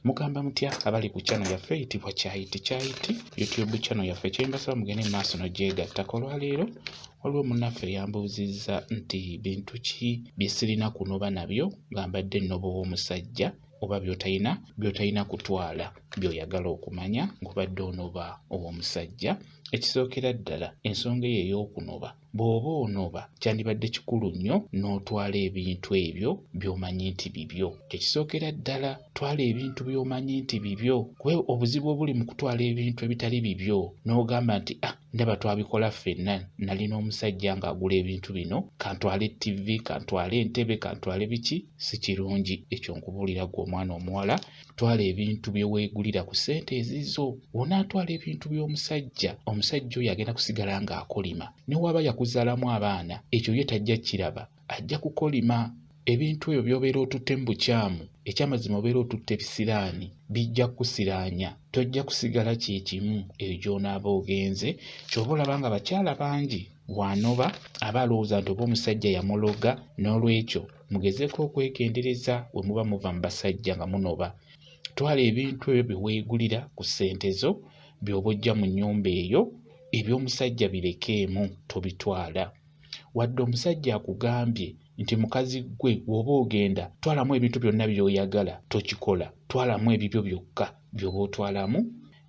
mugamba mutya abali ku channel yaffe eyitibwa kyayiti kyayiti youtube channel yaffe kyembasaba mugende mu maaso nogyegattako olwaleero waliwo munaffe eyambuuzizza nti bintu ki bye sirina kunoba nabyo nga mbadde nnoba ow'omusajja oba byotayina byotayina kutwala byoyagala okumanya ngubadde onoba ow'omusajja ekisookera ddala ensonga eyo ey'okunoba Bw'oba onoba kyandibadde kikulu nnyo n'otwala ebintu ebyo by'omanyi nti bibyo. Kye kisookera ddala twala ebintu by'omanyi nti bibyo kuba obuzibu obuli mu kutwala ebintu ebitali bibyo n'ogamba nti ah ndaba twabikola ffenna nali n'omusajja ng'agula ebintu bino kantwale ttivi kantwale entebe kantwale biki si kirungi ekyo nkubuulira gwe omwana omuwala twala ebintu bye weegulira ku ssente ezizo onaatwala ebintu by'omusajja omusajja oyo agenda kusigala ng'akolima ne waaba yakuzaalamu abaana ekyo ye tajja kiraba ajja kukolima ebintu ebyo by'obeera otutte mu bukyamu ekyamazima obeera otutte bisiraani bijja kukusiraanya tojja kusigala kye kimu eyo gy'onaaba ogenze ky'oba olaba nga bakyala bangi wanoba aba alowooza nti oba omusajja yamuloga n'olwekyo mugezeeko okwegendereza we muba muva mu basajja nga munoba twala ebintu ebyo bye weegulira ku ssente zo by'oba ojja mu nnyumba eyo eby'omusajja birekeemu tobitwala wadde omusajja akugambye nti mukazi ggwe bw'oba ogenda twalamu ebintu byonna by'oyagala tokikola twalamu ebibyo byokka by'oba otwalamu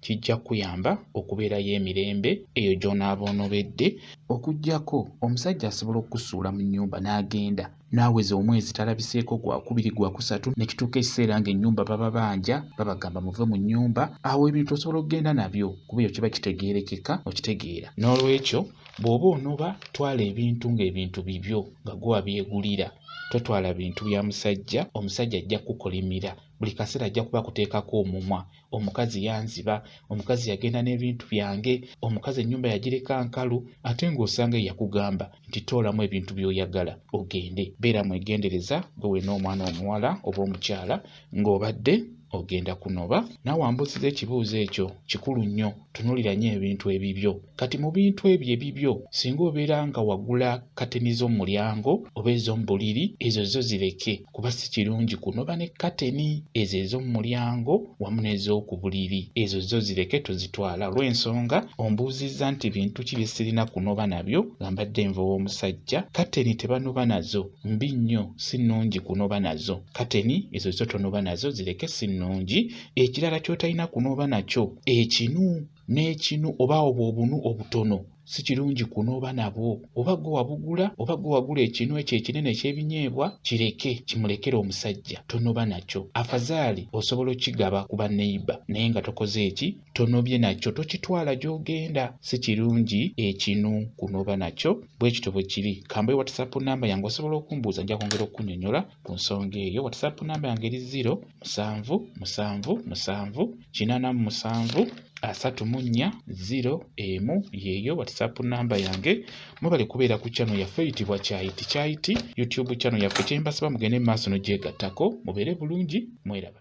kijja kukuyamba okubeerayo emirembe eyo gy'onaaba onobedde okuggyako omusajja asobola okukusuula mu nnyumba n'agenda n'aweza omwezi talabiseeko gwakubiri gwakusatu ne kituuka ekiseera ng'ennyumba bababanja babagamba muve mu nnyumba awo ebintu osobola okugenda nabyo kuba eyo kiba kitegeerekeka okitegeera n'olwekyo bw'oba onoba twala ebintu ng'ebintu bibyo nga gwe wabyegulira totwala bintu bya musajja omusajja ajja kukukolimira buli kaseera ajja kuba akuteekako omumwa omukazi yanziba omukazi yagenda n'ebintu byange omukazi ennyumba yagireka nkalu ate ng'osanga eyakugamba nti toolamu ebintu by'oyagala ogende beera mwegendereza gwe wena omwana omuwala oba omukyala ng'obadde ogenda kunoba naawe ambuusiza ekibuuzo ekyo kikulu nnyo tunulira nnyo ebintu ebibyo kati mu bintu ebyo ebibyo singa obeera nga wagula kateni z'omulyango oba ez'omubuliri ezo zo zireke kuba si kirungi kunoba ne kateni ezo ez'omulyango wamu n'ez'oku buliri ezo zo zireke tozitwala olw'ensonga ombuuzizza nti bintu ki bye sirina kunoba nabyo nga mbadde nva ow'omusajja kateni tebanoba nazo mbi nnyo si nnungi kunoba nazo kateni ezo zo tonoba nazo zireke si nnungi ekirala ky'otalina kunooba nakyo ekinu n'ekinu oba obwo obunu obutono si kirungi kunooba nabwo oba gwe wabugula oba gwe wagula ekinu ekyo ekinene eky'ebinyeebwa kireke kimulekere omusajja tonoba nakyo afazaali osobola okigaba ku baneiba naye nga tokoze eki tonobye nakyo tokitwala gy'ogenda si kirungi ekinu kunooba nakyo bwe kityo bwe kiri kambayo whatsapp namba yange osobola okumbuuza nja kwongera okukunyonyola Ku nsonga eyo WhatsApp namba yange eri ziro musanvu musanvu musanvu kinaana mu musanvu asatu mu nnya ziro emu yeeyo WhatsApp namba yange. Mwebale kubeera ku channel yaffe eyitibwa Kyayiti Kyayiti YouTube channel yaffe. Kye mbasaba mugende mu maaso n'ogyegattako mubeere bulungi mweraba.